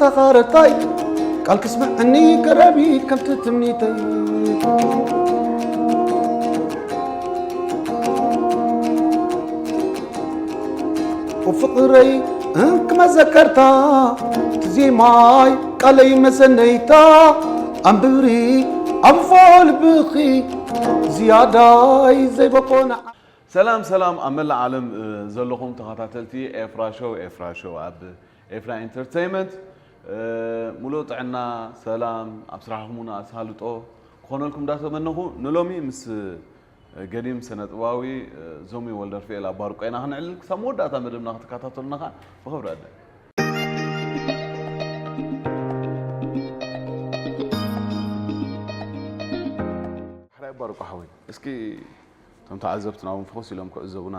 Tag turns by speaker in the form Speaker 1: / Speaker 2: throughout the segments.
Speaker 1: ተኻረታይ ቃል ክስምዐኒ ቀረቢ ከምቲ ትምኒተይ ፍቕረይ እንክመዘከርታ ትዜማይ ቃለይ መሰነይታ ኣንብሪ ኣንፎ ልብኺ ዝያዳይ ዘይበቆነ ሰላም ሰላም
Speaker 2: ኣብ መላእ ዓለም ዘለኹም ተኸታተልቲ ኤፍራ ሾው ኤፍራ ሾው ኣብ ኤፍና ኢንተርተይመንት ሙሉእ ጥዕና ሰላም ኣብ ስራሕኩም ውን ኣሳልጦ ክኾነልኩም እንዳተመነኹ ንሎሚ ምስ ገዲም ስነጥበባዊ ዞሚ ወልደርፍኤል ኣብ ባርቆ ኢና ክንዕልል ክሳብ መወዳእታ መደብና ክትከታተሉና ከዓ ብኽብሪ ዕድም ሕራይ ባርቆ ሓወይ እስኪ እቶም ተዓዘብትና ውን ፈኹስ ኢሎም ክዕዘቡና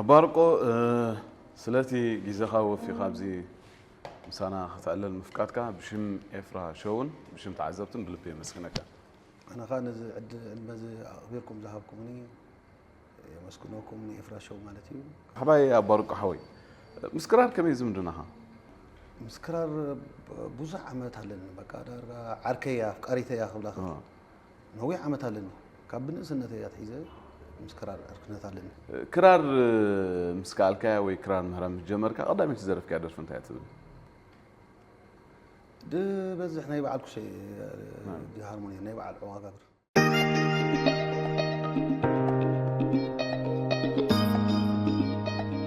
Speaker 1: ኣባርቆ
Speaker 2: ስለቲ ግዜኻ ወፊኻ ኣብዚ ምሳና ከተዕልል ምፍቃድካ ብሽም ኤፍራ ሸውን ብሽም ተዓዘብትን ብልቢ የመስግነካ። ኣነ ከኣ
Speaker 1: ነዚ ዕድመ እዚ ኣቕቢርኩም ዝሃብኩምኒ የመስግነኩም ንኤፍራ ሸው ማለት እዩ። ሓባይ ኣባርቆ
Speaker 2: ሓወይ ምስ ክራር ከመይ እዩ ዝምድናኻ? ምስ
Speaker 1: ክራር ብዙሕ ዓመት ኣለኒ በቃ ዳርጋ ዓርከይ እያ ኣፍቃሪተይ እያ ክብላ እኽእል። ነዊሕ ዓመት ኣለኒ። ካብ ብንእስነተይ ኣትሒዘ ምስ ክራር ዕርክነት ኣለኒ። ክራር
Speaker 2: ምስ ከኣልካያ ወይ ክራር ምህራ ምስ ጀመርካ ቀዳመይቲ ዝደረፍካያ ደርፊ እንታይ እያ ትብል?
Speaker 1: ዝበዝሕ ናይ በዓል ኩሸ ሃርሞኒ ናይ በዓል ዕዋጋብር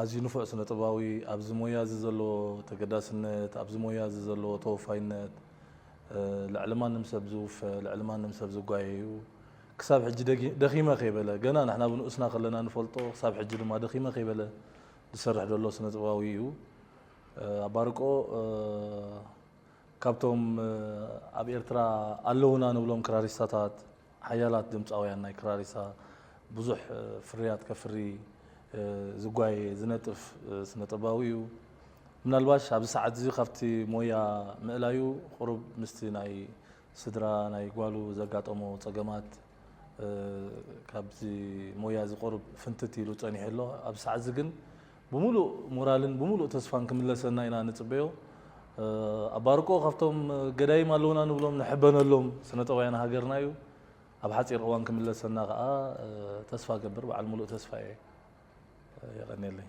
Speaker 3: ኣዝዩ ንፉዕ ስነ-ጥበባዊ፣ ኣብዚ ሞያ'ዚ ዘለዎ ተገዳስነት፣ ኣብዚ ሞያ'ዚ ዘለዎ ተወፋይነት፣ ልዕሊ ማንም ሰብ ዝውፈ፣ ልዕሊ ማንም ሰብ ዝጓየ'ዩ። ክሳብ ሕጂ ደኺመ ከይበለ፣ ገና ንሕና ብንኡስና ከለና ንፈልጦ፣ ክሳብ ሕጂ ድማ ደኺመ ከይበለ ዝሰርሕ ዘሎ ስነ-ጥበባዊ'ዩ። ኣባርቆ ካብቶም ኣብ ኤርትራ ኣለዉና ንብሎም ክራሪስታታት፣ ሓያላት ድምጻውያን ናይ ክራሪሳ ብዙሕ ፍርያት ከፍሪ ዝጓየ ዝነጥፍ ስነጥበባዊ እዩ። ምናልባሽ ኣብዚ ሰዓት እዚ ካብቲ ሞያ ምእላዩ ቁሩብ ምስቲ ናይ ስድራ ናይ ጓሉ ዘጋጠሞ ጸገማት ካብዚ ሞያ እዚ ቁሩብ ፍንትት ኢሉ ጸኒሑ ኣሎ። ኣብዚ ሰዓት እዚ ግን ብምሉእ ሞራልን ብምሉእ ተስፋን ክምለሰና ኢና ንጽበዮ። ኣብ ባርቆ ካብቶም ገዳይም ኣለዉና ንብሎም ንሕበነሎም ስነጠባውያን ሃገርና እዩ። ኣብ ሓጺር እዋን ክምለሰና ከኣ ተስፋ እገብር በዓል ምሉእ ተስፋ እየ። የቐንየለይ።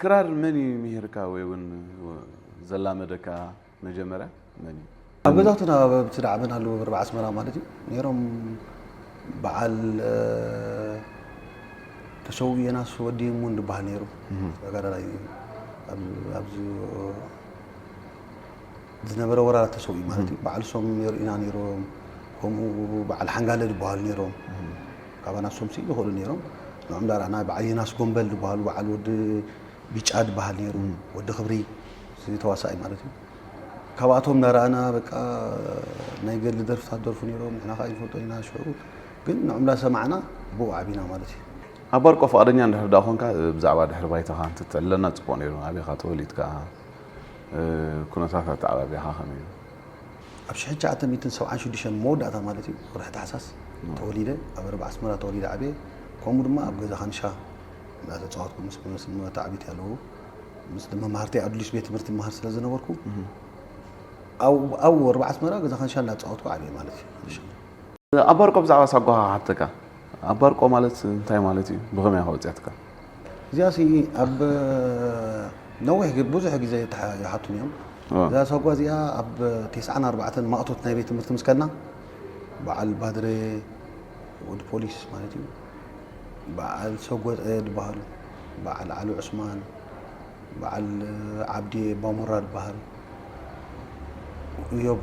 Speaker 2: ክራር መን እዩ ምሂርካ ወይ እውን ዘላመደካ መጀመርያ መን እዩ? ኣብ ገዛውትና ኣብ
Speaker 1: ኣብቲ ዝዓበናሉ ብርብ ዓስመራ ማለት እዩ ነይሮም በዓል ተሸው የናስ ወዲ ሙን ዝበሃል ነይሩ ተጋዳላይ እዩ። ኣብ- ኣብዚ ዝነበረ ወራራት ተሰው እዩ ማለት እዩ። በዓል ሶም ነይሩ ኢና ነይሮም ከምኡ በዓል ሓንጋለ ዝበሃሉ ነይሮም ካባና ንሶም ስኢኑ ይኸእሉ ነይሮም ንዑ እምበር ኣና በዓል ዮናስ ጎምበል ዝበሃሉ በዓል ወዲ ቢጫ ዝበሃል ነይሩ ወዲ ክብሪ እዚ ተዋሳኣይ ማለት እዩ ካብኣቶም እናረኣና በቃ ናይ ገድሊ ደርፍታት ደርፉ ነይሮም ንሕና ከዓ ይንፈልጦ ኢና ሽዑ ግን ንዑ እንዳ ሰማዕና ብኡ ዓቢና ማለት እዩ ኣብ ባርቆ ፍቃደኛ
Speaker 2: እንድሕር ደኣ ኮንካ ብዛዕባ ድሕሪ ባይታኻ እንትትዕለና ጽቡቅ ነይሩ ኣበይ ኢኻ ተወሊድካ ኩነታት ኣተዓባብያኻ ከመይ እዩ ኣብ ሽሕን
Speaker 1: ትሽዓተ ሚእትን ሰብዓን ሽዱሽተን መወዳእታ ማለት እዩ ወርሒ ታሕሳስ ተወሊደ ኣብ ርብ ኣስመራ ተወሊደ ዓብየ ከምኡ ድማ ኣብ ገዛ ካንሻ እናተፃወትኩ ምስ መታዕቢት ያለው ምስ መማህርተይ ኣዱሊሽ ቤት ትምህርቲ መሃር ስለ ዝነበርኩ ኣብኡ ርብ ኣስመራ ገዛ ካንሻ እናተፃወትኩ ዓብየ ማለት እዩ
Speaker 2: ኣባርቆ ብዛዕባ ሳጓ ሃብተካ ኣባርቆ ማለት እንታይ ማለት እዩ ብኸመይ ከወፅያትካ እዚኣ ሲ
Speaker 1: ኣብ ነዊሕ ግ- ብዙሕ ግዜ ይተሓ- ይሓቱኒ እዮም ዋ። እዛ ሰጓ እዚኣ ኣብ ቴስዓን ኣርባዕተን ማእቶት ናይ ቤት ትምህርቲ ምስ ከድና በዓል ባድረ ወዲ ፖሊስ ማለት እዩ በዓል ሰጎፀ ዝበሃሉ በዓል ዓሊ ዑስማን በዓል ዓብድየ ባሙራ ዝበሃል እዮብ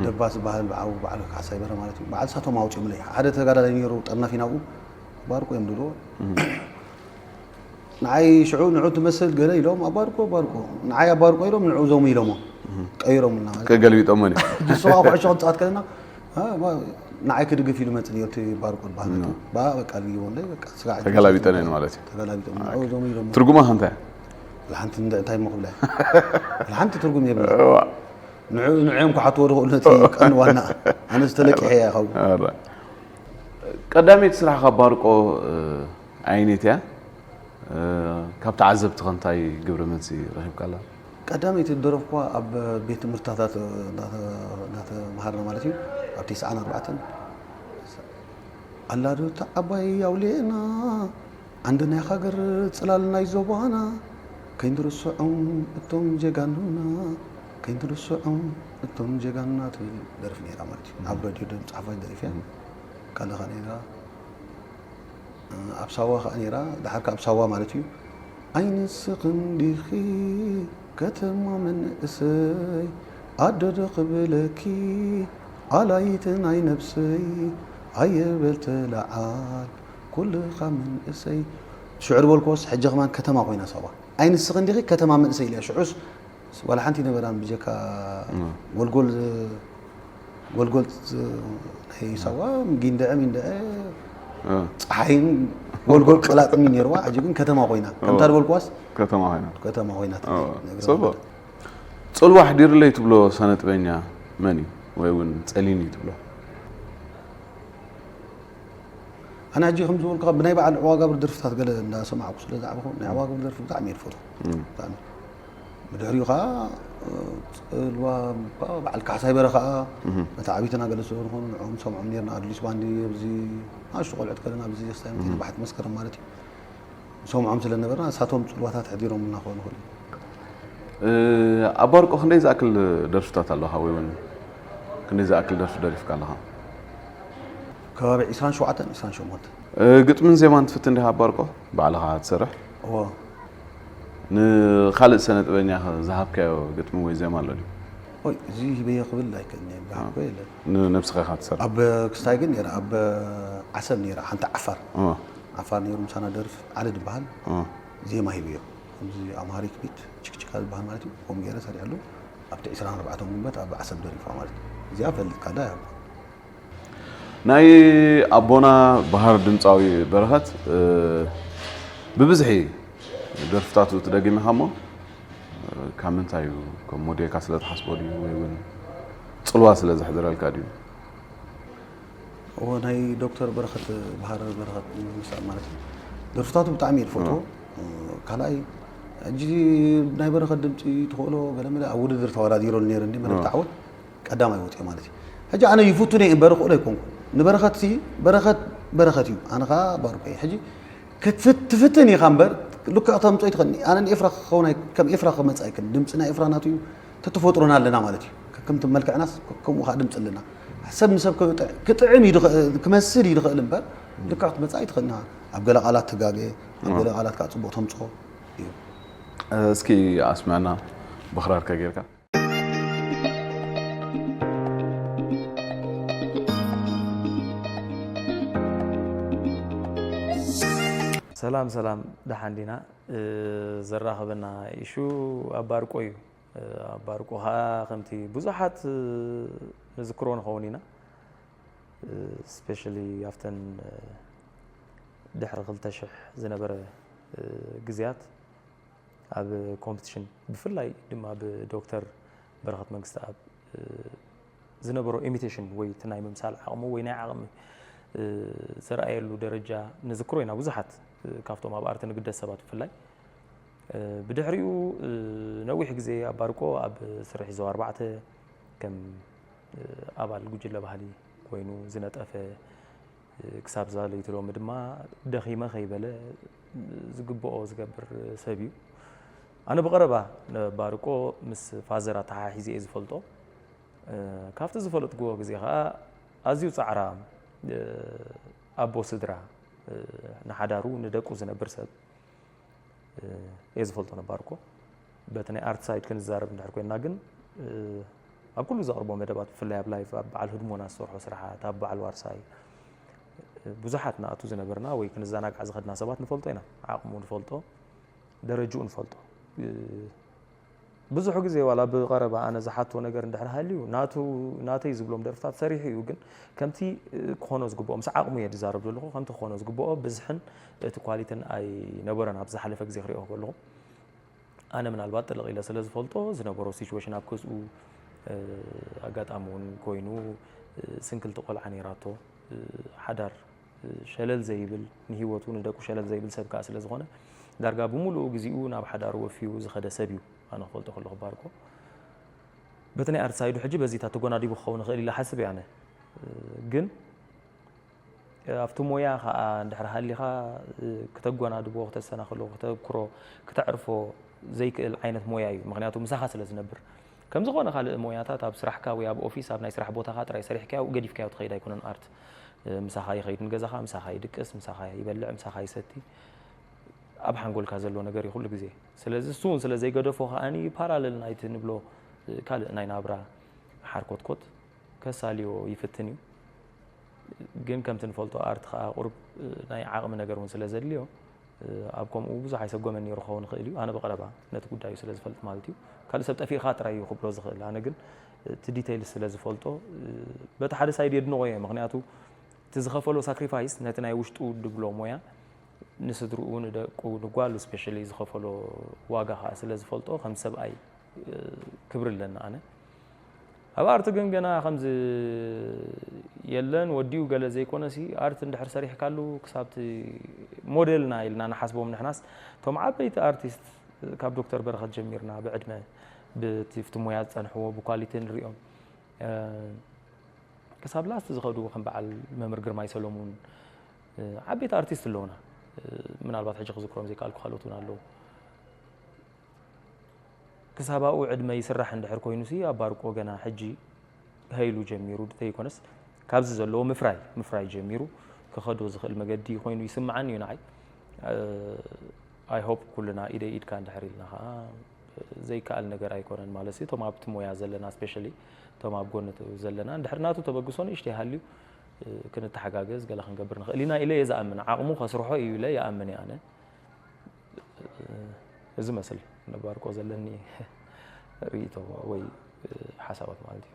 Speaker 1: ደባስ ዝበሃል ብዓው በዓል ካሕሳይ በረ ማለት እዩ በዓል ሳቶም ኣውፂኦምለይ ሓደ ተጋዳላይ ነይሩ ጠርናፊ ናብኡ ባርኮ እዮም ድሮ ንዓይ ሽዑ ንዑ ትመስል ገለ ኢሎም ኣባርኮ ኣባርኮ ንዓይ ኣባርኮ ኢሎም ንዑ ዞሙ ኢሎሞ ቀይሮምና ገልቢጦሞ ንሱ
Speaker 2: ከዓ ኩዕሾ ክንፃወት
Speaker 1: ከለና ንዓይ ክድግፍ ኢሉ መፅእ ነርቲ ባርኮ ዝበሃል ባ በቃ ልይቦለይ በቃ ስጋዕ ተገላቢጠን እየን ማለት እዩ
Speaker 2: ተገላቢጦም ንዑ ዞሙ
Speaker 1: ኢሎሞ ትርጉማ ከንታይ
Speaker 2: ሓንቲ
Speaker 1: እንታይ ሞ ክብላ ሓንቲ ትርጉም የብላ ንዑ ንዑዮም ክሓትዎ ዝኽእሉ ነቲ ቀን ዋና ኣነ ዝተለቂሐ እያ ካብ ቀዳመይቲ
Speaker 2: ስራሕኻ ባርቆ ኣይኔት እያ። ካብ ተዓዘብቲ ከ እንታይ ግብረ መልሲ ረኺብካላ? ቀዳመይቲ
Speaker 1: ዝደረፍኩዋ ኣብ ቤት ትምህርትታታት እናተምሃርና ማለት እዩ ኣብ ቴስዓን ኣርባዕተን ኣላዶ እታ ዓባይ ኣውሊዕና ዓንዲ ናይ ሃገር ጽላል ናይ ዞባና ከይንርስዖም እቶም ጀጋኑና ከይንርስዖም እቶም ጀጋኑና ትብል ደርፊ ነይራ ማለት እዩ ኣብ ረድዮ ድምጺ ሓፋሽ ደሪፈያ ካልኻ ነይራ ኣብ ሳዋ ከዓ ነይራ ድሓር ካብ ሳዋ ማለት እዩ ኣይንስኽን ዲኺ ከተማ መንእሰይ ኣደዶ ክብለኪ ኣላይት ናይ ነብሰይ ኣየበል ተለዓል ኩልኻ መንእሰይ ሽዑ ዝበልክዎስ ሕጂ ከማን ከተማ ኮይና ሳዋ ኣይ ንስኺ እንዲኺ ከተማ መንእሰይ ኢልያ ሽዑስ ዋላ ሓንቲ ይነበራን ብጀካ ጎልጎል ጎልጎል ናይ ሳዋ ጊንደዐ ሚንደዐ ፀሓይን ጎልጎል ቀላጥም እዩ ነይርዋ ሕጂ ግን ከተማ ኮይና ከምታ ዝበልክዋስ ከተማ ኮይና ከተማ ኮይና ፅቡቅ
Speaker 2: ፅልዋ ኣሕዲርለይ ትብሎ ሰነጥበኛ መን እዩ ወይ እውን ፀሊም እዩ ትብሎ
Speaker 1: ኣነ ሕጂ ከም ዝበልኩ ብናይ በዓል ዕዋጋብር ደርፍታት ገለ እንዳሰማዕኩ ስለ ዝዓበኹ ናይ ዕዋጋብር ደርፊ ብጣዕሚ እየ ዝፈትዎ ብጣዕሚ ብድሕሪኡ ከዓ ፅልዋ በዓል ካሕሳይ በረ ከዓ ነቲ ዓብይትና ገለ ስለ ዝኾኑ ንዕኦም ሰምዖም ነርና ኣድሊስ ባንዲ ኣብዚ ኣሽቶ ቆልዕት ከለና ኣብዚ ክስታይ ባሕቲ መስከረም ማለት እዩ ንሰምዖም ስለ ነበርና ንሳቶም ጽልዋታት ኣሕዲሮምልና ክኾኑ ይኽእሉ እዮም። ኣብ
Speaker 2: ባርቆ ክንደይ ዝኣክል ደርፍታት ኣለኻ ወይ እውን ክንደይ ዝኣክል ደርፊ ደሪፍካ ኣለኻ?
Speaker 1: ከባቢ ዒስራን ሸውዓተን ዒስራን ሸሞንተን። ግጥምን ዜማን
Speaker 2: ትፍትን ዲኻ ኣብ ባርቆ ባዕልኻ ትሰርሕ? እዎ።
Speaker 1: ንኻልእ
Speaker 2: ሰነ ጥበበኛ ዝሃብካዮ ግጥሚ ወይ ዜማ ኣሎ ድዩ? ወይ እዚ
Speaker 1: ሂበዮ ክብል ኣይክእልን እየ ዝሃብኮ የለን። ንነብስኻ ኢኻ
Speaker 2: ትሰርሕ? ኣብ ክስታይ ግን ነይረ
Speaker 1: ኣብ ዓሰብ ነይረ ሓንቲ ዓፋር። ዓፋር ነይሩ ምሳና ደርፍ ዓሊ ድበሃል ዜማ ሂብዮ ከምዚ ኣምሃሪክ ቢት ችክችካ ዝበሃል ማለት እዩ ከምኡ ገይረ ሰሪዐሉ ኣብቲ ዕስራን ኣርባዕተን ጉንበት ኣብ ዓሰብ ደሪፍዋ ማለት እዩ እዚኣ ፈልጥካላ እያ ናይ
Speaker 2: ኣቦና ባህር ድምፃዊ በረኸት ብብዝሒ ደርፍታቱ ትደግሚኻ እሞ ካብ ምንታይ እዩ ከም ሞዴልካ ስለ ትሓስቦ ድዩ ወይ እውን ፅልዋ ስለ ዘሕድረልካ ድዩ
Speaker 1: እወ ናይ ዶክተር በረኸት ብሃረ በረኸት ምሳእ ማለት እዩ ደርፍታቱ ብጣዕሚ እየ ዝፈትዎ ካልኣይ ሕጂ ናይ በረኸት ድምፂ ትኽእሎ ገለመለ ኣብ ውድድር ተወዳዲሮ ነይረኒ መደብ ተዓወት ቀዳማይ ወፅኦ ማለት እዩ ሕጂ ኣነ ይፍቱ ነይ እምበር ክእሎ ኣይኮንኩ ንበረኸት ሲ በረኸት በረኸት እዩ ኣነ ከዓ ባርኮ እዩ ሕጂ ክትፍትን ኢኻ እምበር ልክዕ ተምፅኦ ይትኽእል ኣነ ንኤፍራ ክኸውን ከም ኤፍራ ክመፅ ኣይክል ድምፂ ናይ ኤፍራ ናቱ እዩ ተተፈጥሮና ኣለና ማለት እዩ ከከምቲ መልክዕናስ ከምኡ ከዓ ድምፂ ኣለና ሰብ ንሰብ ክጥዕም እዩ ክመስል እዩ ድኽእል እምበር ልክዕ ክትመፅእ ኣይትኽእልና ኣብ ገለ ቃላት ትጋገ ኣብ ገለ ቃላት ከዓ ፅቡቅ ተምፅኦ እዩ እስኪ
Speaker 2: ኣስምዕና ብክራር ከጌርካ ሰላም
Speaker 4: ሰላም ደሓን ዲና ዘራኽበና ኢሹ ኣብ ባርቆ እዩ። ኣብ ባርቆ ኸኣ ከምቲ ብዙሓት ንዝክሮ ንኸውን ኢና ስፔሻሊ ኣብተን ድሕሪ ክልተ ሽሕ ዝነበረ ግዜያት ኣብ ኮምፕቲሽን ብፍላይ ድማ ብዶክተር በረኸት መንግስትኣብ ዝነበሮ ኢሚቴሽን ወይ እቲ ናይ ምምሳል ዓቕሙ ወይ ናይ ዓቕሚ ዘርኣየሉ ደረጃ ንዝክሮ ኢና ብዙሓት ካብቶም ኣብ ኣርቲ ንግደስ ሰባት ብፍላይ ብድሕሪኡ ነዊሕ ግዜ ኣብ ባርቆ ኣብ ስርሒ ዞባ ኣርባዕተ ከም ኣባል ጉጅለ ባህሊ ኮይኑ ዝነጠፈ ክሳብ ዛለይቲ ሎሚ ድማ ደኺመ ከይበለ ዝግብኦ ዝገብር ሰብ እዩ ኣነ ብቐረባ ባርቆ ምስ ፋዘር ኣተሓሒዘ እየ ዝፈልጦ ካብቲ ዝፈለጥክዎ ግዜ ከኣ ኣዝዩ ጻዕራም ኣቦ ስድራ ንሓዳሩ ንደቁ ዝነብር ሰብ እየ ዝፈልጦ ነባርኮ በቲ ናይ ኣርት ሳይድ ክንዛረብ እንድሕር ኮይና ግን ኣብ ኩሉ ዘቕርቦ መደባት ብፍላይ ኣብ ላይፍ ኣብ በዓል ህድሞና ዝሰርሖ ስራሓት ኣብ በዓል ዋርሳይ ብዙሓት ንኣቱ ዝነበርና ወይ ክንዘናጋዕ ዝኸድና ሰባት ንፈልጦ ኢና ዓቕሙ ንፈልጦ ደረጅኡ ንፈልጦ ብዙሕ ግዜ ዋላ ብቐረባ ኣነ ዝሓቶ ነገር እንድሕር ሃልዩ ናቱ ናተይ ዝብሎም ደርፍታት ሰሪሑ እዩ ግን ከምቲ ክኾኖ ዝግብኦ ምስ ዓቕሙ እየ ዝዛረብ ዘለኹ ከምቲ ክኾኖ ዝግብኦ ብዝሕን እቲ ኳሊትን ኣይነበረን ኣብ ዝሓለፈ ግዜ ክሪኦ ከለኹ ኣነ ምናልባት ጥልቕ ኢለ ስለ ዝፈልጦ ዝነበሮ ሲቹዌሽን ኣብ ክዝኡ ኣጋጣሚ እውን ኮይኑ ስንክልቲ ቆልዓ ነይራቶ ሓዳር ሸለል ዘይብል ንሂወቱ ንደቁ ሸለል ዘይብል ሰብ ከኣ ስለ ዝኾነ ዳርጋ ብምሉኡ ግዜኡ ናብ ሓዳሩ ወፊዩ ዝኸደ ሰብ እዩ ኣነ ክፈልጦ ከለኹ ባርኮ በቲ ናይ ኣርት ሳይዱ ሕጂ በዚታት ተጎናዲቡ ክኸውን ይኽእል ኢለ ሓስብ እየ ኣነ ግን ኣብቲ ሞያ ከዓ እንድሕር ሃሊኻ ክተጎናድቦ ክተሰናኽሎ ክተብክሮ ክተዕርፎ ዘይክእል ዓይነት ሞያ እዩ ምክንያቱ ምሳኻ ስለ ዝነብር ከምዝኾነ ካልእ ሞያታት ኣብ ስራሕካ ወይ ኣብ ኦፊስ ኣብ ናይ ስራሕ ቦታኻ ጥራይ ሰሪሕካዮ ገዲፍካዮ ትኸይድ ኣይኮነን ኣርት ምሳኻ ይኸይድ ንገዛኻ ምሳኻ ይድቅስ ምሳኻ ይበልዕ ምሳኻ ይሰቲ ኣብ ሓንጎልካ ዘሎ ነገር እዩ ኩሉ ግዜ ስለዚ እሱ እውን ስለ ዘይገደፎ ከዓኒ ፓራለል ናይቲ ንብሎ ካልእ ናይ ናብራ ሓርኮትኮት ከሳልዮ ይፍትን እዩ ግን ከምቲ ንፈልጦ ኣርት ከዓ ቁርብ ናይ ዓቕሚ ነገር እውን ስለ ዘድልዮ ኣብ ከምኡ ብዙሕ ኣይሰጎመን ነይሩ ክኸውን ይኽእል እዩ ኣነ ብቐረባ ነቲ ጉዳዩ ስለ ዝፈልጥ ማለት እዩ ካልእ ሰብ ጠፊእኻ ጥራይ እዩ ክብሎ ዝኽእል ኣነ ግን እቲ ዲተይል ስለ ዝፈልጦ በቲ ሓደ ሳይድ የድንቆ እየ ምክንያቱ እቲ ዝኸፈሎ ሳክሪፋይስ ነቲ ናይ ውሽጡ ድብሎ ሞያ ንስድርኡ ንደቁ ንጓሉ ስፔሻሊ ዝኸፈሎ ዋጋ ከዓ ስለ ዝፈልጦ ከም ሰብኣይ ክብሪ ኣለና ኣነ ኣብ ኣርት ግን ገና ከምዚ የለን ወዲኡ ገለ ዘይኮነሲ ኣርት እንድሕር ሰሪሕካሉ ክሳብቲ ሞዴልና ኢልና ንሓስቦም ንሕናስ እቶም ዓበይቲ ኣርቲስት ካብ ዶክተር በረኸት ጀሚርና ብዕድመ ብቲ ሙያ ዝፀንሕዎ ብኳሊቲ ንሪኦም ክሳብ ላስት ዝኸዱ ከም በዓል መምህር ግርማይ ሰለሙን ዓበይቲ ኣርቲስት ኣለውና ምናልባት ሕጂ ክዝክሮም ዘይከኣልኩ ካልኦት እውን ኣለዉ ክሳብ ኣብኡ ዕድመ ይስራሕ እንድሕር ኮይኑሲ ኣባርቆ ገና ሕጂ ሃይሉ ጀሚሩ ተይኮነስ ካብዚ ዘለዎ ምፍራይ ምፍራይ ጀሚሩ ክኸዶ ዝኽእል መገዲ ኮይኑ ይስምዓኒ እዩ ንዓይ ኣይሆፕ ኩልና ኢደይ ኢድካ እንድሕር ኢልና ከዓ ዘይከኣል ነገር ኣይኮነን ማለት እዩ እቶም ኣብቲ ሞያ ዘለና ስፔሻሊ እቶም ኣብ ጎኒ ዘለና እንድሕር ናቱ ተበግሶ ንእሽተ ይሃልዩ ክንተሓጋገዝ ገለ ክንገብር ንኽእል ኢና ኢለ እየ ዝኣምን ዓቕሙ ከስርሖ እዩ ኢለ ይኣምን እየ ኣነ እዚ መስል ነባርቆ ዘለኒ ሪኢቶ ወይ ሓሳባት ማለት እዩ።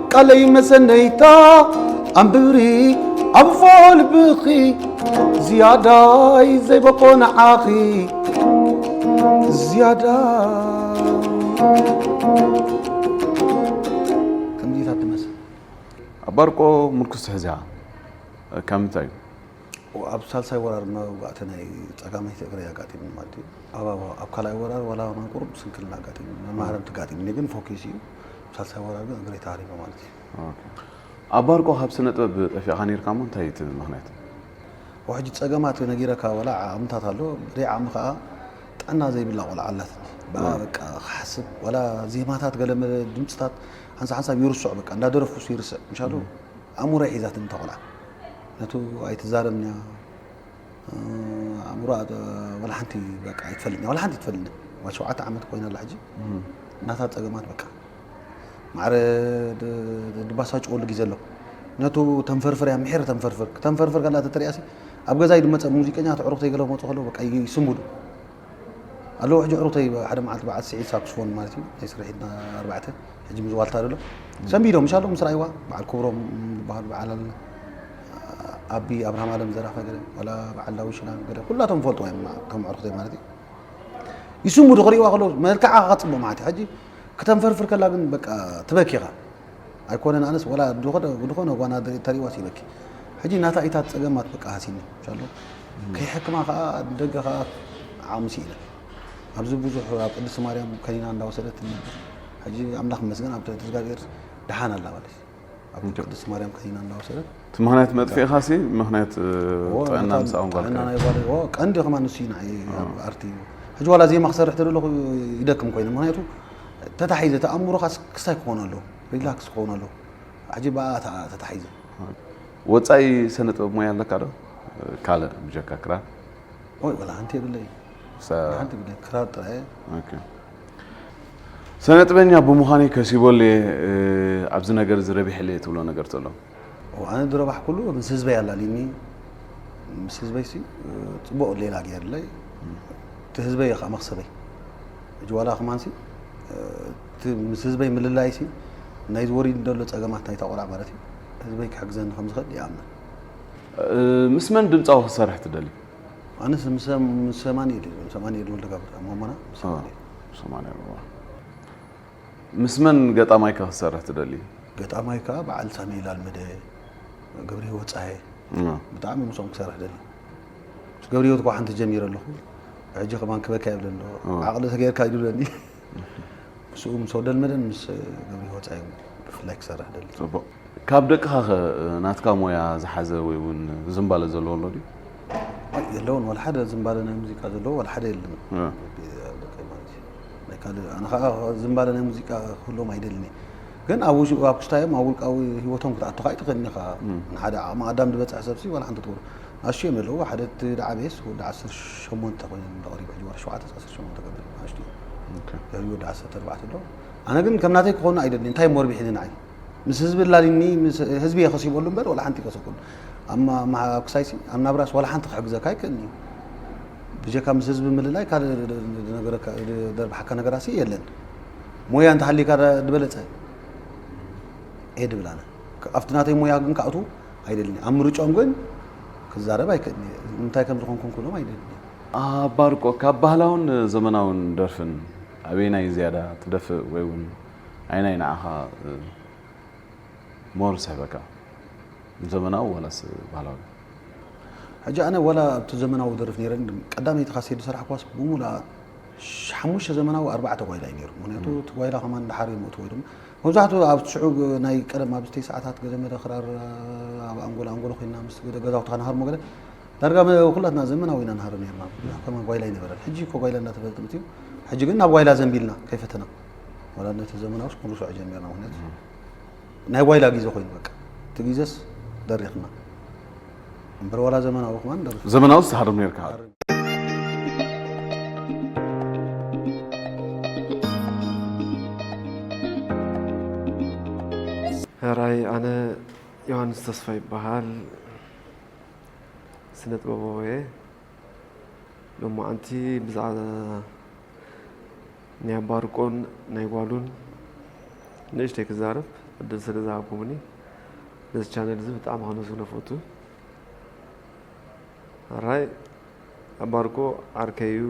Speaker 1: ቃለይ መሰነይታ ኣንብሪ ኣብፎ ልብኺ ዝያዳይ ዘይበቆ ንዓኺ ዝያዳ ከምዚታት ትመስል ኣባርቆ
Speaker 2: ምርኩስ ትሕዚያ ካብ ምንታይ እዩ ኣብ
Speaker 1: ሳልሳይ ወራር መውጋእቲ ናይ ፀጋመይቲ እግረይ ኣጋጢሙ ማለት እዩ ኣብ ካልኣይ ወራር ዋላ ቁሩብ ስንክልና ኣጋጢሙ መማህረምቲ ኣጋጢሙኒ ግን ፎኪስ እዩ ሳልሳይ ወራዶ እግረይ ተሃሪመ ማለት እዩ። ኦኬ
Speaker 2: ኣብ ባርቆ ካብ ስነ ጥበብ ጠፊእኻ ነይርካ እሞ እንታይ እዩ እቲ ምኽንያት? ወሕጂ
Speaker 1: ጸገማት ነጊረካ ወላ ዓቕምታት ኣሎ ብዘይ ዓቕሚ ከኣ ጥዕና ዘይብላ ቆልዓ ኣላትኒ ብኣ በቃ ክሓስብ ወላ ዜማታት ገለመለ ድምጽታት ሓንሳ ሓንሳብ ይርስዖ በቃ እንዳደረፍኩስ ይርስዕ ምሻሉ ኣእምሮይ ሒዛትኒ እታ ቆልዓ ነቱ ኣይትዛረብንያ ኣእምሮ ዋላ ሓንቲ በቃ ኣይትፈልጥን ዋላ ሓንቲ ትፈልጥን ዋላ ሸውዓተ ዓመት ኮይና ኣላ ሕጂ እናታ ፀገማት በቃ ማዕረ ድባሳጭወሉ ግዜ ኣሎ ነቱ ተንፈርፍር እያ ምሒር ተንፈርፍር ተንፈርፍር ከላ ተተሪኣሲ ኣብ ገዛ ይድመፀ ሙዚቀኛ ተዕሩኽተይ ገለ ክመፁ ከለዉ በቃ ይስምዱ ኣሎ ሕጂ ሕሩተይ ሓደ መዓልቲ በዓል ስዒድ ሳክስፎን ማለት እዩ ናይ ስርሒትና ኣርባዕተ ሕጂ ምስ ዋልታ ደሎ ሰንቢዶም ምሻሎ ምስ ራእይዋ በዓል ክብሮም ዝበሃሉ በዓል ኣለና ኣቢ ኣብርሃም ኣለም ዘራፈ ገለ ዋላ በዓል ዳዊ ሽላን ገለ ኩላቶም ፈልጥዋ እዮም ከም ኣዕርክተይ ማለት እዩ ይስሙ ዶ ክርእይዋ ከለዉ መልክዓ ክፅብቕ ማለት እዩ ሕጂ ክተንፈርፍር ከላ ግን በቃ ትበኪ ኢኻ ኣይኮነን ኣነስ ወላ ድኾነ ጓና ተሪዋስ ይበኪ ሕጂ ናታ ኢታት ጸገማት በቃ ሃሲኒ ሻሎ ከይሕክማ ከዓ ደገ ከዓ ዓቕሚ ስኢነ ኣብዚ ብዙሕ ኣብ ቅድስቲ ማርያም ከኒና እንዳወሰደት ነበር ሕጂ ኣምላኽ መስገን ኣብ ትሕቲ እግዚኣብሔር ድሓን ኣላ ማለት ኣብ ምንጪ ቅድስቲ ማርያም ከኒና እንዳወሰደት እቲ ምክንያት መጥፊእኻ
Speaker 2: ሲ ምክንያት እ፣ እዎ፣ ጥዕና ነታ ምሳኦም ጥዕና ጓልካ ናይ ጓል- እዎ፣ ቀንዲ
Speaker 1: ከማን ንሱ እዩ ንዓይ ኣብ ኣርቲ እዩ ሕጂ ዋላ ዜማ ክሰርሕ ተደለኹ ይደክም ኮይነ ምክንያቱ ተታሒዘ ተኣምሮኻ ክስታይ ክኾን ኣለዎ ሪላክስ ክኾን ኣለዎ ሕጂ ብኣ ተኣ- ተታሒዘ ወፃኢ
Speaker 2: ስነ ጥበብ ሞያ ኣለካ ዶ ካልእ ብጀካ ክራር ወይ ወላ
Speaker 1: ሓንቲ የብለይ ሳ- ሓንቲ የብለይ ክራር ጥራይ እየ ኦኬ።
Speaker 2: ሰነጥበኛ ብምዃነይ ከሲበሉ'የ፣ ኣብዚ ነገር'ዚ ረቢሐሉ'የ ትብሎ ነገር ተሎ? እወ፣ ኣነ
Speaker 1: ዝረባሕኩሉ ምስ ህዝበይ ኣላልዩኒ፣ ምስ ህዝበይሲ ጽቡቕ ሌላ ገይሩለይ፣ እቲ ህዝበይ'ዩ ከኣ መኽሰበይ። ሕጂ ዋላ ከማንሲ እቲ ምስ ህዝበይ ምልላይሲ ናይዚ ወሪድኒ ዘሎ ጸገማት ናይታ ቆልዓ ማለት'ዩ፣ ህዝበይ ክሕግዘኒ ከም ዝኽእል ይኣምን።
Speaker 2: ምስ መን ድምጻዊ ክትሰርሕ ትደሊ? ኣነስ
Speaker 1: ምስ ሰማን ኢድ ሰማን ኢድ ወልደ ጋብር ኣሞሞና ምስ ሰማን ኢድ ሰማን
Speaker 2: ኢድ ምስ መን ገጣማይካ ክትሰርሕ
Speaker 1: ትደሊ? ገጣማይ ከዓ በዓል ሳሚኤል ኣልመደ፣ ገብረ
Speaker 2: ህይወት
Speaker 1: ፀሃየ ብጣዕሚ ምስኦም ክሰርሕ ደሊ ምስ ገብረ ህይወት እኳ ሓንቲ ጀሚረ ኣለኹ ሕጂ ከማን ክበኪ ኣይብለሎ ዓቕሊ ተገይርካ ይብለኒ ምስኡ ምስ ወደልመደን ምስ ገብሪ ወፃኢ ብፍላይ ክሰርሕ ደሊ ፅቡቅ ካብ ደቅኻ
Speaker 2: ከ ናትካ ሞያ ዝሓዘ ወይ እውን ዝምባለ ዘለዎ ኣሎ ድዩ የለውን
Speaker 1: ዋላ ሓደ ዝምባለ ናይ ሙዚቃ ዘለዎ ዋላ ሓደ የለን እ። ኣብ ደቀይ ማለት እዩ ናይ ካልእ ኣነ ከዓ ዝምባለ ናይ ሙዚቃ ክህልዎም ኣይደልን እየ ግን ኣብ ውሽ- ኣብ ክስታዮም ኣብ ውልቃዊ ሂወቶም ክትኣቱ ከዓ ኣይትኽእልን ኢኻ ንሓደ ዓቕሚ ኣዳም ዝበፅሐ ሰብሲ ዋላ ሓንቲ ትገብሮ ኣሽ እዮም ኣለዎ ሓደ እቲ ዝዓበየስ ወዲ ዓሰርተ ሸሞንተ ኮይኑ ተቐሪቡ ሕጂ ወርሒ ሸውዓተ ሸሞንተ ገለ ንኣሽቱ ድሕሪኡ ወዲ ዓሰርተ ኣርባዕተ ኣሎ ኣነ ግን ከም ናተይ ክኾኑ ኣይደሊ እንታይ እሞ ርቢሒኒ ንዓይ ምስ ህዝቢ ላሊኒ ህዝቢ እየ ከሲበሉ እምበር ዋላ ሓንቲ ከሰብኩሉ ክሳይሲ ኣብ ናብራስ ዋላ ሓንቲ ክሕግዘካ ኣይክእልኒ ብጀካ ምስ ህዝቢ ምልላይ ካልእ ደርብሓካ ነገራሲ የለን ሞያ እንተሃሊካ ዝበለፀ እየ ድብል ኣነ ኣብቲ ናተይ ሞያ ግን ካኣቱ ኣይደልኒ ኣብ ምርጮም ግን ክዛረብ ኣይክእልኒ እንታይ ከም ዝኾንኩም ክብሎም ኣይደልኒ ኣባርቆ
Speaker 2: ካብ ባህላውን ዘመናውን ደርፍን ኣበየናይ ዝያዳ ትደፍእ ወይ ውን ኣየናይ ንዓኻ ሞር ዝስሕበካ ዘመናዊ ዋላስ ባህላዊ?
Speaker 1: ሕጂ ኣነ ዋላ ኣብቲ ዘመናዊ ደርፍ ነይረ ቀዳመይቲ ካሴት ዝሰራሕክዋስ ብሙሉኣ ሓሙሽተ ዘመናዊ ኣርባዕተ ጓይላ እዩ ነይሩ ምክንያቱ እቲ ጓይላ ከማን ድሓር እዮም እትዎ ድማ መብዛሕትኡ ኣብ ሽዑ ናይ ቀደም ኣብ ዝተይ ሰዓታት ገለ መደ ክራር ኣብ ኣንጎሎ ኣንጎሎ ኮይና ምስ ገደ ገዛውትኻ ንሃርሞ ገለ ዳርጋ ኩላትና ዘመናዊ ኢና ንሃርም ነርና ብዙሕ ከማን ጓይላ ኣይነበረን ሕጂ እኮ ጓይላ እንዳተበለ ጥምት እዩ ሕጂ ግን ናብ ጓይላ ዘንቢልና ከይፈተና ወላ ነቲ ዘመናውስ ክንርስዖ ጀሚርና ምክንያቱ ናይ ጓይላ ግዜ ኮይኑ በቃ እቲ ግዜስ ደሪኽና እምበር ወላ ዘመናዊ ከማን ደርፍ ዘመናውስ ትሃርም ነርካ
Speaker 2: ሕራይ
Speaker 5: ኣነ ዮሃንስ ተስፋ ይበሃል ስነ ጥበባዊ እየ ሎማዓንቲ ብዛዕባ ናይ ኣባርቆን ናይ ጓሉን ንእሽተይ ክዛረብ ዕድል ስለ ዝሃብኩምኒ ነዚ ቻነል እዚ ብጣዕሚ ከነሱ ነፈቱ ራይ ኣባርኮ ዓርከይ'ዩ፣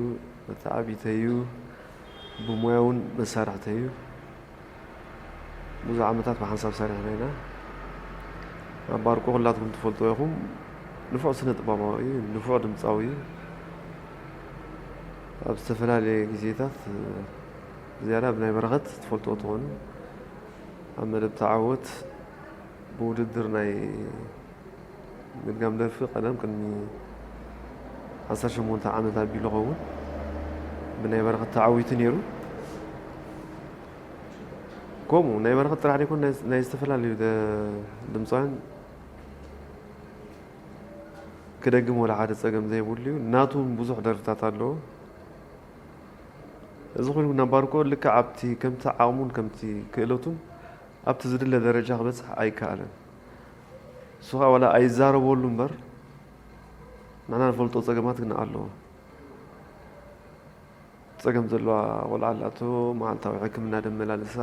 Speaker 5: መተዓብይተይ'ዩ፣ ብሞያ'ውን መሳርሕተይ'ዩ። ብዙሕ ዓመታት ብሓንሳብ ሰሪሕና ኢና። ኣባርኮ ኩላትኩም ትፈልጥዎ ኢኹም፣ ንፉዕ ስነ-ጥበባዊ'ዩ፣ ንፉዕ ድምጻዊ'ዩ። ኣብ ዝተፈላለየ ግዜታት ብዝያዳ ብናይ በረኸት ትፈልጥዎ ትኾኑ፣ ኣብ መደብ ተዓወት ብውድድር ናይ ምድጋም ደርፊ ቀደም ቅድሚ ዓሰርተ ሸሞንተ ዓመት ኣቢሉ ኸውን ብናይ በረኸት ተዓዊቱ ነይሩ። ከምኡ ናይ በረኸት ጥራሕ ደይኮን ናይ ዝተፈላለዩ ድምፃውያን ክደግም ወላ ሓደ ፀገም ዘይብሉ እዩ። ናቱ እውን ብዙሕ ደርፍታት ኣለዎ። እዚ ኩሉ ናብ ባርኮ ልክዕ ኣብቲ ከምቲ ዓቕሙን ከምቲ ክእለቱን ኣብቲ ዝድለ ደረጃ ክበፅሕ ኣይከኣለን። እሱ ኸኣ ዋላ ኣይዛረበሉ እምበር ንሕና ንፈልጦ ጸገማት ግን ኣለዎ። ጸገም ዘለዋ ቆልዓ ኣላቶ፣ መዓልታዊ ሕክምና ደመላልሳ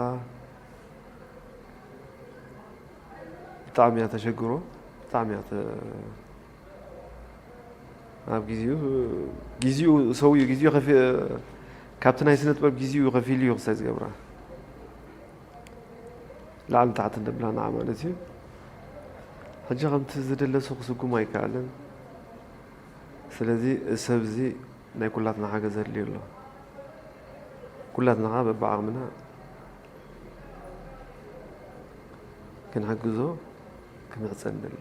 Speaker 5: ብጣዕሚ እያ ተሸግሮ ብጣዕሚ እያ ኣብ ግዚኡ ግዚኡ ሰውዩ ግዚኡ ካብቲ ናይ ስነ ጥበብ ግዚኡ ከፊሉ እዩ ክሳይ ዝገብራ ላዕልን ታሕትን ንብላ ንዓ ማለት እዩ ሕጂ ከምቲ ዝድለሱ ክስጉም ኣይከኣልን ስለዚ እዚ ሰብ እዚ ናይ ኩላትና ሓገዝ ኣድልዩ ኣሎ ኩላትና ከዓ በብዓቕምና ክንሕግዞ ክንሕፀ ንደሊ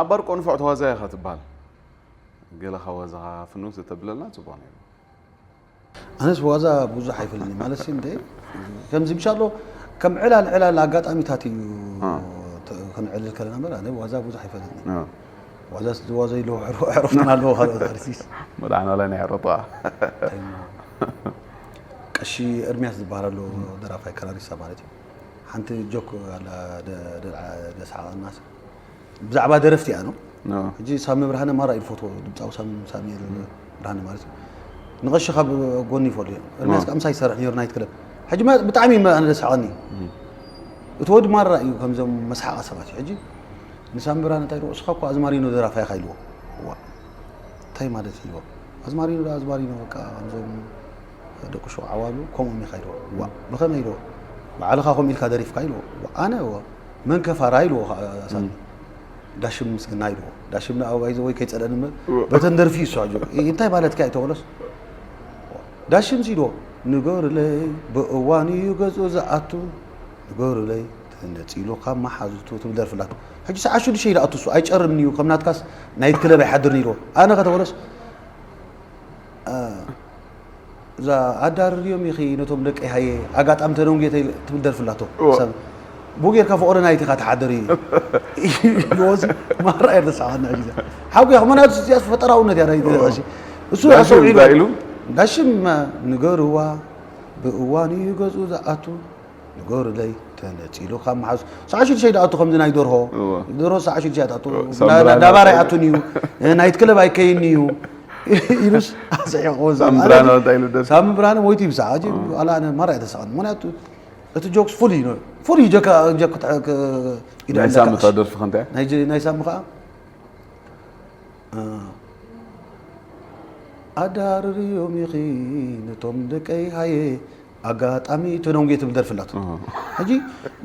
Speaker 2: ኣብ ባር ቆንፎዕ ተዋዛያ ኢኻ ትበሃል ገለ ካብ ዋዛኻ ፍንውት እተብለልና ፅቡቕ ነይሩ
Speaker 1: ኣነስ ዋዛ ብዙሕ ኣይፈልኒ ማለት እንደ ከምዚ ብሻ ኣሎ ከም ዕላል ዕላል ኣጋጣሚታት እዩ ክንዕልል ከለና በር ኣነ ዋዛ ብዙሕ ኣይፈልኒ ዋዛ ዝዋዘ ኢሉ ዕረፍትና ኣለዎ ካልኦት ኣርቲስት መድዓናላይ ናይ
Speaker 2: ዕረጣ
Speaker 1: ቀሺ እርሚያስ ዝበሃል ኣሎ ደራፋይ ከራሪሳ ማለት እዩ ሓንቲ ጆክ ኣላ ደስሓቐና ብዛዕባ ደረፍቲ እያ ነው ሕጂ ሳሚ ብርሃነ ማራ እዩ ፎቶ ድምፃዊ ሳሚ ብርሃነ ማለት እዩ ንቐሺ ካብ ጎኒ ይፈልዩ እርሚያስ ከዓ ምሳይ ይሰርሕ ነሩ ናይት ክለብ ሕጂ ብጣዕሚ ኣነ ደስሓቐኒ እዩ እቲ ወዲ ማራ እዩ ከምዞም መስሓቓ ሰባት እዩ ሕጂ ንሳሚ ብርሃነ እንታይ ንስኻ እኮ ኣዝማሪኖ ደራፋይኻ ኢልዎ ታይ ማለት ኢዩ ኣዝማሪኖ ዳኣ ኣዝማሪኖ በቃ ከምዞም ደቂ ሹቅ ዓዋሉ ከምኦም ኢካ ኢልዎ ዋእ ብከመይ ኢልዎ ብዓልካ ከምኡ ኢልካ ደሪፍካ ኢልዎ ዋእ ኣነ ወ መን ከፋራ ኢልዎ ከዓ ሳሚ ዳሽም ምስግና ኢልዎ ዳሽም ንኣ ባይዘ ወይ ከይጸለኒ እምበር በተን ደርፊ እዩ እሱ ኣጆ እንታይ ማለትካ እዩ ተበሎስ ዳሽም ሲዶ ንገሩለይ ብእዋን እዩ ገዝኡ ዝኣቱ ንገሩለይ ተነጺሉ ካብ መሓዙቱ ትብል ደርፊ ኣላቶ ሕጂ ሰዓት ሽዱሽተ ኢሉ ኣትሱ ኣይጨርን እዩ ከም ናትካስ ናይት ክለብ ኣይሓድርን ኢልዎ ኣነ ከተበለስ እዛ ኣዳርርዮም ኢኺ ነቶም ደቂ ሃየ ኣጋጣሚ ተደንጉየ ትብል ደርፊ ኣላቶ ብኡ ጌርካ ፍቕሪ ናይት ኢኻ ትሓድር ኢልዎሲ ማራ እየ ተሰዓና ሕጂ ሓጉያ ከመናቱ እዚኣስ ፈጠራውነት እያ ናይቲ ደርፊ እሱ ኣሰውዒሉ ኢሉ ዳሽም ንገርዋ ብእዋኑ እዩ ገዝኡ ዝኣቱ ንገሩለይ ተነጺሉ ካብ መሓዙ ሰዓ ሽዱሽተ ይድኣቱ ከምዚ ናይ ደርሆ ደርሆ ሰዓ ሽዱሽተ ይድኣቱ ዳባር ኣይኣቱን እዩ ናይት ክለብ ኣይከይን እዩ ኢሉስ ኣስሒቑ ሳሚ ብርሃነ ሞይቱ ይብሳ ዋላ ኣነ ማራ እየ ተሳቐኒ ምክንያቱ እቲ ጆክስ ፍሉይ እዩ ፍሉይ ጀካ ጀክ ናይ
Speaker 2: ሳሚ እታ ደርፊ ከንታይ ናይ ሳሚ
Speaker 1: ከዓ ኣዳርርዮም ኢኺ ነቶም ደቀይ ሃየ ኣጋጣሚ ተደንጉየ ትብል ደርፊ ኣላቶ ሕጂ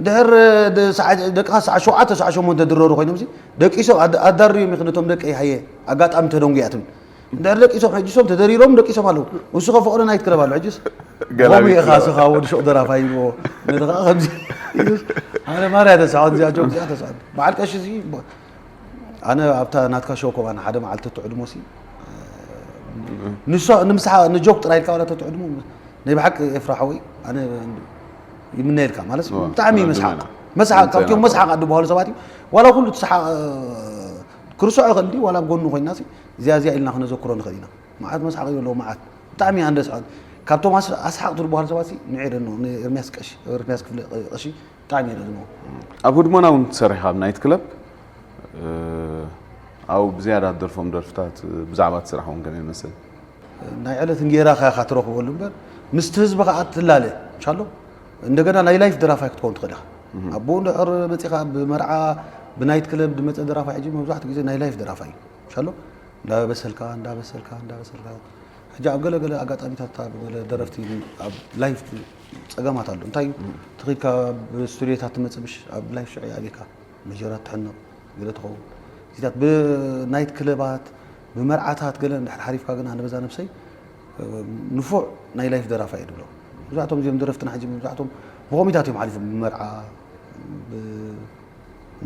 Speaker 1: ድሕር ደቅኻ ሰዓ ሸውዓተ ሰዓ ሸሞንተ ድረሩ ኮይኖም ሲ ደቂሶም ኣዳርዮም ኢኺ ነቶም ደቀይ ሃየ ኣጋጣሚ ተደንጉያ ትብል ድሕር ደቂሶም ሕጂ ሶም ተደሪሮም ደቂሶም ኣለዉ እሱ ከ ፍቕሪ ናይት ክረብ ኣሎ ሕጂስ ከምኡ ኢኻ ስኻ ወዲ ሹቕ ደራፋይ ይብዎ ነቲ ከዓ ከምዚ ኣነ ማርያ ተስዖን እዚኣ ጆክ እዚኣ ተስዖን በዓል ቀሺ እዚ ኣነ ኣብታ ናትካ ሾው ኮማን ሓደ መዓልቲ ትዕድሞ ሲ ንሷ ንምስሓ ንጆክ ጥራይ ኢልካ ዋላ ተትዕድሞ ናይ ብሓቂ ኤፍራ ሓወይ ኣነ ይምነየልካ ማለት ብጣዕሚ መስሓቅ መስሓቅ ካብቲኦም መስሓቅ ኣድበሃሉ ሰባት እዩ ዋላ ኩሉ ትስሓቅ ክርስዖ ይኽእል እንዲ ዋላ ጎኑ ኮይና እዚኣ እዚኣ ኢልና ክነዘክሮ ንኽእል ኢና መዓት መስሓቅ እዩ ኣለዎ መዓት ብጣዕሚ እያ ንደስ ካብቶም ኣስሓቅ ትድበሃሉ ሰባት ንዔደኖ ንኤርሚያስ ቀሺ ኤርሚያስ ክፍለ ቀሺ ብጣዕሚ እየ ዝድግሞ። ኣብ ህድሞና
Speaker 2: ውን ትሰርሕ ኢኻ ኣብ ናይት ክለብ ኣብኡ ብዝያዳ ትደርፎም ደርፍታት ብዛዕባ እቲ ስራሕ ውን ገለ ይመስል። ናይ ዕለት
Speaker 1: እንጌራኻ ኢኻ ትረኽበሉ እምበር ምስቲ ህዝቢ ከኣ ትላለ ቻሎ እንደገና ናይ ላይፍ ደራፋይ ክትከውን ትኽእል ኢኻ። ኣቡኡ እንድሕር መጺኻ ኣብ መርዓ ብናይት ክለብ ዝመጸ ደራፋይ ሕጂ መብዛሕትኡ ግዜ ናይ ላይፍ ደራፋይ እዩ ቻሎ እንዳበሰልካ እንዳበሰልካ እንዳበሰልካ ሕጂ ኣብ ገለ ገለ ኣጋጣሚታት ኣብ ገለ ደረፍቲ ኣብ ላይፍ ጸገማት ኣሎ እንታይ እዩ እቲ ኺድካ ብ ስቱድዮታት ትመጽእ ምሽ ኣብ ላይቭ ሽዑ ይኣብየካ መጀራት ትሕነቕ ገለ ትኸውን እዚታት ብ ናይት ክለባት ብመርዓታት ገለ እንድሕር ሓሪፍካ ግን ኣነ በዛ ነብሰይ ንፉዕ ናይ ላይፍ ደራፋይ እየ ድብሎ መብዛሕቶም እዚኦም ደረፍትና ሕጂ መብዛሕቶም ብኮሚታት እዮም ሓሊፎም ብመርዓ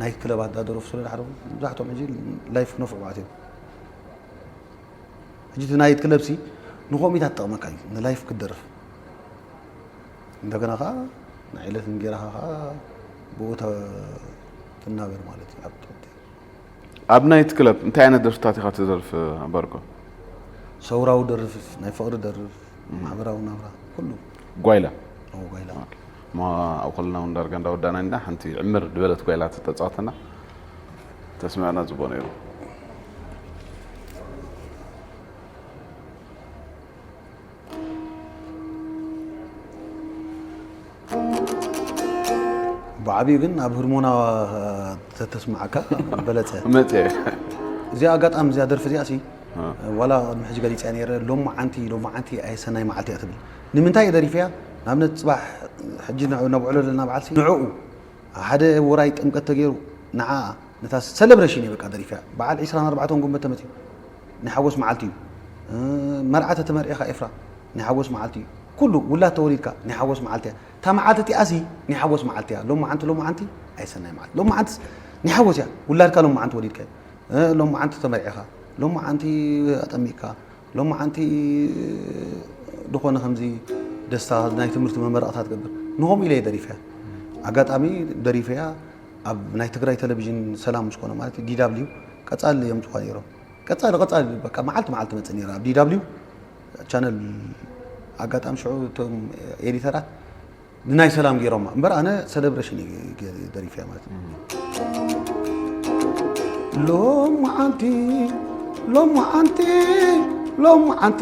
Speaker 1: ናይት ክለባት ዳደረፉ ስለ ዝሓለፉ መብዛሕቶም ሕጂ ላይፍ ክነፍዑ ማለት እዮም ሕጂ እቲ ናይት ክለብሲ ንኮሚታት ትጠቕመካ እዩ ንላይፍ ክትደርፍ እንደገና ከዓ ናይ ዕለት እንጌራኻ ከዓ ብኡ ትናበር ማለት እዩ ኣብ ትሕቲ ኣብ
Speaker 2: ናይት ክለብ እንታይ ዓይነት ደርፍታት ኢኻ ትደርፍ ኣባርኮ?
Speaker 1: ሰውራዊ ደርፍ ናይ ፍቕሪ ደርፍ ማሕበራዊ ናብራ ኩሉ ጓይላ
Speaker 2: ኣብ ጓይላ
Speaker 1: እሞ ኣብ ከለና
Speaker 2: እውን ዳርጋ እንዳወዳእና ኢና ሓንቲ ዕምር ዝበለት ጓይላ ተተፃወተና ተስምዐና ፅቡቅ ነይሩ
Speaker 1: ብዓብዩ ግን ኣብ ህርሞና ተተስማዓካ በለፀ መፀ
Speaker 2: እዚኣ
Speaker 1: ኣጋጣሚ እዚኣ ደርፊ እዚኣ ሲ ዋላ ቅድሚ ሕጂ ገሊፅያ ነይረ ሎሚ መዓንቲ ሎሚ መዓንቲ ኣየሰናይ መዓልቲ እያ ትብል ንምንታይ እየ ደሪፈያ ንኣብነት ፅባሕ ሕጂ ነብዕሎ ዘለና በዓል ሲ ንዕኡ ሓደ ወራይ ጥምቀት ተገይሩ ንዓ ነታ ሰለብሬሽን እየ በቃ ደሪፈያ በዓል 24 ጉንበት ተመፅዩ ናይ ሓጎስ መዓልቲ እዩ መርዓ ተተመርዒኻ ኤፍራ ናይ ሓጎስ መዓልቲ እዩ ኩሉ ውላድ ተወሊድካ ናይ ሓጎስ መዓልቲ እያ እታ መዓልቲ እቲኣሲ ናይ ሓጎስ መዓልቲ እያ ሎም መዓንቲ ሎም መዓንቲ ኣይሰናይ መዓልቲ ሎም መዓንቲስ ናይ ሓጎስ እያ ውላድካ ሎም መዓንቲ ወሊድካ እዩ ሎም መዓንቲ ተመርዒኻ ሎም መዓንቲ ኣጠሚቕካ ሎም መዓንቲ ዝኾነ ከምዚ ደስታ ናይ ትምህርቲ መመረቕታ ትገብር ንኸምኡ ኢለ ደሪፈያ ኣጋጣሚ ደሪፈያ ኣብ ናይ ትግራይ ቴሌቪዥን ሰላም ምስ ኮነ ማለት ዲ ደብሊው ቀጻሊ የምጽዋ ነይሮም ቀጻሊ ቀጻሊ በቃ መዓልቲ መዓልቲ መጽእ ነይራ ኣብ ዲ ደብሊው ቻነል ኣጋጣሚ ሽዑ እቶም ኤዲተራት ንናይ ሰላም ገይሮማ እምበር ኣነ ሴሌብሬሽን ደሪፈያ ማለት ሎም መዓንቲ ሎም መዓንቲ ሎም መዓንቲ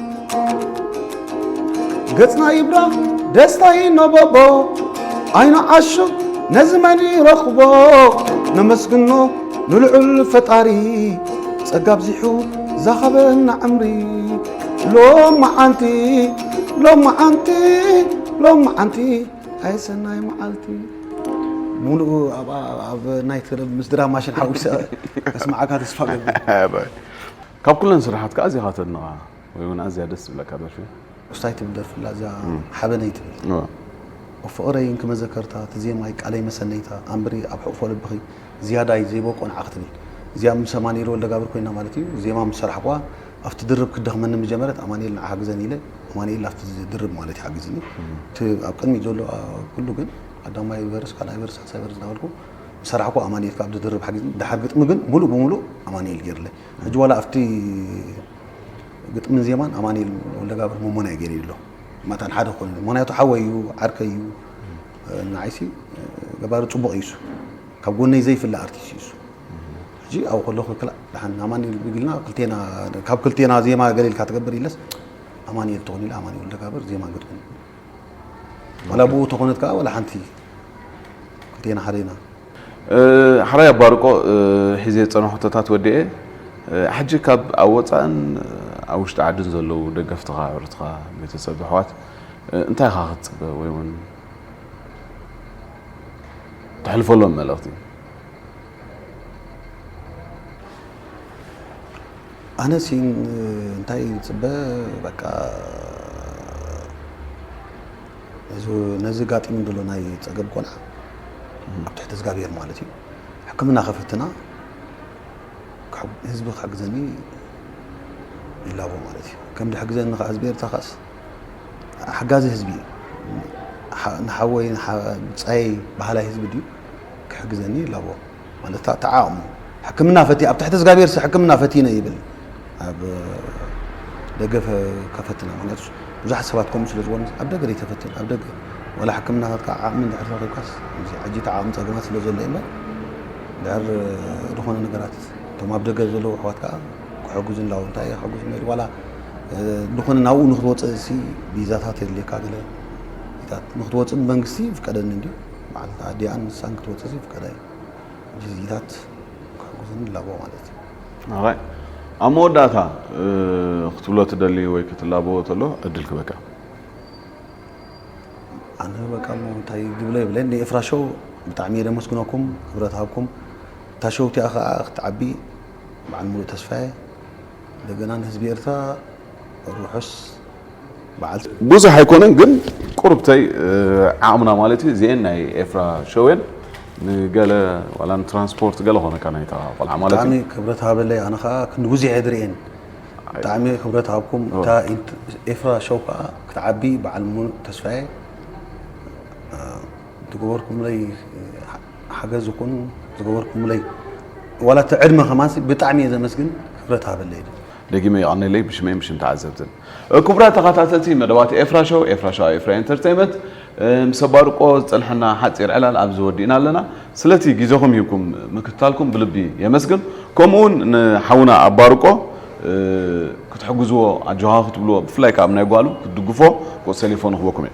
Speaker 1: ገጽና ይብራ ደስታ ይነበቦ ዓይኑ ዓሹ ነዚ መን ይረኽቦ ነመስግኖ ንልዑል ፈጣሪ ጸጋ ኣብዚሑ ዛኸበና ዕምሪ ሎመዓንቲ ሎመዓንቲ ሎመዓንቲ ኣይ ሰናይ መዓልቲ ሙሉእ ኣብ- ኣብ ናይ ትርብ ምስ ድራማ ሽን ሓዊሰ ከስማዓካ ተስፋ ገብር
Speaker 2: ካብ ኩለን ስራሓትካ ኣዚኻ ተድንቓ ወይ ውን ኣዝያ ደስ ትብለካ ደርፊ? ኡስታይ ትብል ደርፊ ኣላ
Speaker 1: እዛ ሓበነይ ትብል ኦፍ ፍቕረይ እንኪ መዘከርታ እቲ ዜማይ ቃለይ መሰነይታ ኣንብሪ ኣብ ሕቕፎ ልብኺ ዝያዳይ ዘይበቆ ንዓኺ ትብል እዚኣ ምስ ኣማኒኤል ወልደጋብር ኮይና ማለት እዩ ዜማ ምስ ሰራሕኩዋ ኣብቲ ድርብ ክትደኽመኒ ምጀመረት ኣማኒኤል ንዓ ሓግዘኒ ኢለ ኣማኒኤል ኣብቲ ድርብ ማለት እዩ ሓጊዝኒ እቲ ኣብ ቅድሚት ዘሎ ኩሉ ግን ቀዳማይ ቨርስ ካልኣይ ቨርስ ሳልሳይ ቨርስ እናበልኩ ሰራሕኩ ኣማኒኤል ካብ ድርብ ሓጊዝኒ ድሓር ግጥሚ ግን ሙሉእ ብሙሉእ ኣማኒኤል ገይርለይ ሕጂ ዋላ ኣብቲ ግጥምን ዜማን ኣማኒኤል ወልደጋብር መሞናይ ገይረ ኣሎ ማታን ሓደ ክኾን ምክንያቱ ሓወይ እዩ ዓርከይ እዩ ንዓይሲ ገባሪ ፅቡቕ እዩሱ ካብ ጎነይ ዘይፍለ ኣርቲስት እዩሱ ሕጂ ኣብኡ ከለኹ ክላእ ድሓን ኣማኒኤል ብግልና ክልቴና ካብ ክልቴና ዜማ ገለ ኢልካ ትገብር ኢለስ ኣማኒኤል ትኾን ኢለ ኣማኒኤል ወልደጋብር ዜማ ግጥምን ዋላ ብኡ ተኾነት ከዓ ዋላ ሓንቲ ክልቴና ሓደ ኢና ሓራይ
Speaker 2: ኣባርቆ ሒዘ ዝፀነ ሕቶታት ወዲኤ ሕጂ ካብ ኣብ ወፃእን ኣብ ውሽጢ ዓድን ዘለዉ ደገፍትኻ ኣዕሩትኻ ቤተሰብ ኣሕዋት እንታይ ኢኻ ክትፅበ ወይ እውን ተሕልፈሎም መልእኽቲ
Speaker 1: ኣነ ሲ እንታይ ዝፅበ በቃ ነዚ ጋጢሙ ዘሎ ናይ ፀገብ ቆልዓ ኣብ ትሕቲ እግዚኣብሔር ማለት እዩ ሕክምና ከፈትና ህዝቢ ክሕግዘኒ ይላቦ ማለት እዩ ከም ዝሕግዘኒ ከዓ ህዝቢ ኤርትራ ከዓስ ሓጋዚ ህዝቢ እዩ ንሓወይ ብፃየይ ባህላይ ህዝቢ ድዩ ክሕግዘኒ ይላቦ ማለት ተዓቕሙ ሕክምና ፈቲ ኣብ ትሕቲ እግዚኣብሔር ሕክምና ፈቲነ ይብል ኣብ ደገ ከፈትና ምክንያቱ ብዙሓት ሰባት ከምኡ ስለ ዝኾኑ ኣብ ደገ ዘይተፈትን ኣብ ደገ ዋላ ሕክምናታትካ ዓቕሚ ድሕር ረኺብካስ ሕጂ እቲ ዓቕሚ ፀገማት ስለ ዘሎ እምበር ድሕር ዝኾነ ነገራት እቶም ኣብ ደገ ዘለዉ ኣሕዋት ከዓ ክሕግዙ ንላው እንታይ ክሕግዙ ነሩ ዋላ ዝኾነ ናብኡ ንክትወፅእ ሲ ቪዛታት የድልየካ ገለ ንክትወፅእ ብመንግስቲ ይፍቀደኒ እንዲ በዓልቲ ኣዲኣን ንሳን ክትወጽእ ዘይፍቀዳ እየን። ጂዚታት ክሕግዙኒ ይላበዎ ማለት እዩ። ራይ
Speaker 2: ኣብ መወዳእታ ክትብሎ ትደሊ ወይ ክትላበዎ ተሎ ዕድል ክበካ።
Speaker 1: ኣነ በቃ እሞ እንታይ ግብለ ይብለ ንኤፍራ ሾው ብጣዕሚ እየ ደመስግነኩም ክብረት ሃብኩም እታ ሾው እቲኣ ከዓ ክትዓቢ በዓል ሙሉእ ተስፋ እየ እንደገና ንህዝቢ ኤርትራ ርሑስ በዓልቲ ብዙሕ ኣይኮነን
Speaker 2: ግን ቁርብተይ ዓቕምና ማለት እዩ እዚኤን ናይ ኤፍራ ሸዌን ንገለ ዋላ ንትራንስፖርት ገለ ኮነካ ናይታ ቆልዓ ማለት እዩ ብጣዕሚ ክብረት ሃበለይ
Speaker 1: ኣነ ከዓ ክንዲ ጉዜሕ ድርኤን ብጣዕሚ ክብረት ሃብኩም እታ ኤፍራ ሸው ከዓ ክትዓቢ በዓል ሙሉእ ተስፋየ ዝገበርኩምለይ ሓገዝ ይኹን ዝገበርኩምለይ ዋላ እቲ ዕድመ ከማንሲ ብጣዕሚ እየ ዘመስግን ክብረት ሃበለይ ደጊመ
Speaker 2: የቐንየለይ ብሽመይን ብሽም ተዓዘብትን። ክቡራት ተኻታተልቲ መደባት ኤፍራ ሸው፣ ኤፍራ ሸው ኣብ ኤፍራ ኢንተርተይመት ምስ ኣባርቆ ዝጸንሐና ሓጺር ዕላል ኣብዚ ወዲእና ኣለና። ስለቲ ግዜኹም ሂብኩም ምክትታልኩም ብልቢ የመስግን። ከምኡውን ንሓውና ኣባርቆ ክትሕግዝዎ ኣጆኻ ክትብልዎ ብፍላይ ከኣ ኣብ ናይ ጓሉ ክትድግፎ ቁጽሪ ተሌፎኑ ክህበኩም እየ።